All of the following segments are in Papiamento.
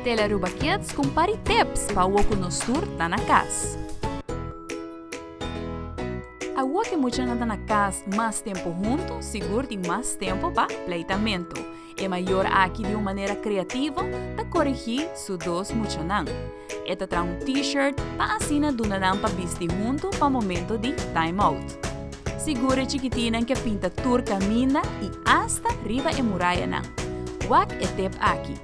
Tel Aruba Kids ku un par di tips pa awo ku nos tur ta na kas. Awo ku e muchanan ta na kas mas tempu huntu, sigur tin mas tempu pa pleitamentu. E mayor aki di un manera kreativo ta korigí su dos muchanan. E ta traha un T-shirt pa asina duna nan pa bisti huntu pa momento di Time Out. Sigur e chikitinan ke pinta tur kaminda i asta riba e murayanan. Wak e tep aki.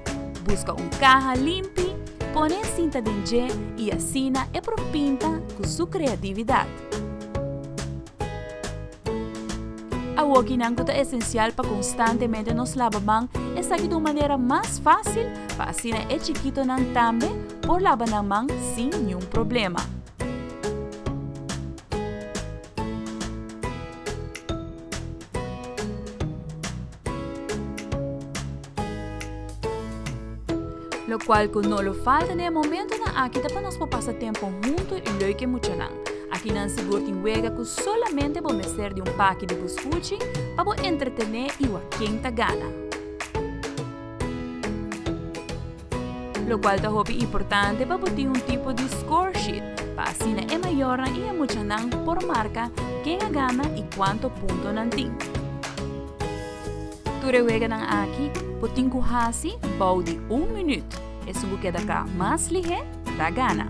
Buska un kaha limpi, pone e sinta den dje i asina e por pinta ku su kreatividat. Awokinan ku ta esensial pa konstantemente nos laba man esaki ta un manera mas fásil pa asina e chikitonan tambe por laba nan man sin niun problema. Locual cu no lo falta na e momentonan aki ta pa nos por pasa tempo hunto y leuk e muchanan. Aki nan sigur tin wega cu solamente bo mester di un paki di bo scuchi pa bo entretene y wa ken ta gana. lokual ta hopi importante pa bo tin un tipo di scoresheet pa asina e mayornan i e muchanan por marka ken a gana i kuantu punto nan tin. Tur e weganan aki bo tin ku hasi bou di un minüt, esun ku keda ka mas lihé ta gana.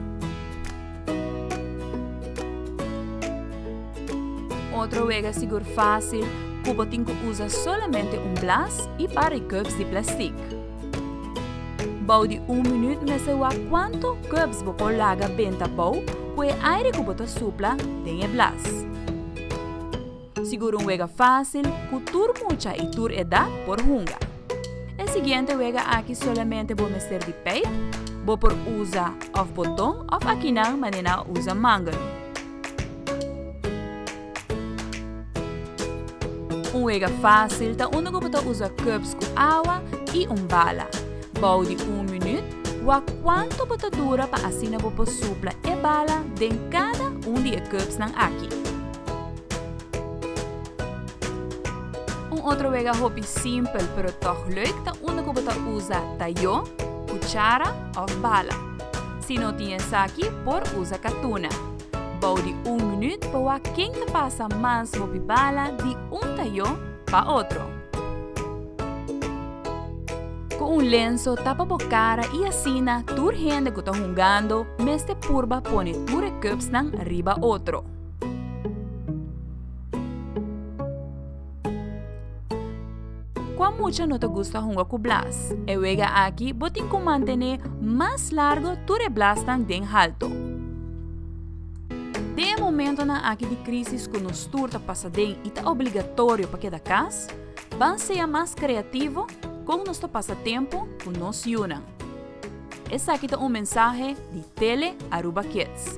Otro wega sigur fásil ku bo tin ku usa solamente un blas i par di cups di plastik. Bou di un minuut mester wak kuantu kubs bo por laga benta bou ku e aire ku bo ta supla den e blas. Sigur un wega fásil ku tur mucha i tur edat por hunga. E siguiente wega aki solamente bo mester di pijp, bo por usa òf boton òf akinan manera a usa mangel. Un wega fásil ta unda ku bo ta usa cubes ku awa i un bala. Bou di un minüt, wak kuantu bo ta dura pa asina bo por supla e bala den kada un di e cubesnan aki. Un otro wega hopi simpel pero tòg lüik ta unda ku bo ta usa tayó, kuchara òf bala. Si no tin esaki por usa katuna. Bou di un minuut pa wak ken ta pasa mas hopi bala di un tayo pa otro. Cu un lenso tapa bo cara y asina tur hende cu ta hungando mester purba pone tur e cupsnan riba otro. Kua mucha no ta gusta hunga ku blas? E wega aki bo tin ku mantené mas largo tur e blasnan den haltu. Den e momentonan aki di krísis ku nos tur ta pasa den i ta obligatorio pa keda kas, ban sea mas kreativo kon nos ta pasa tempu ku nos yunan. Esaki ta un mensahe di Tele Aruba Kids.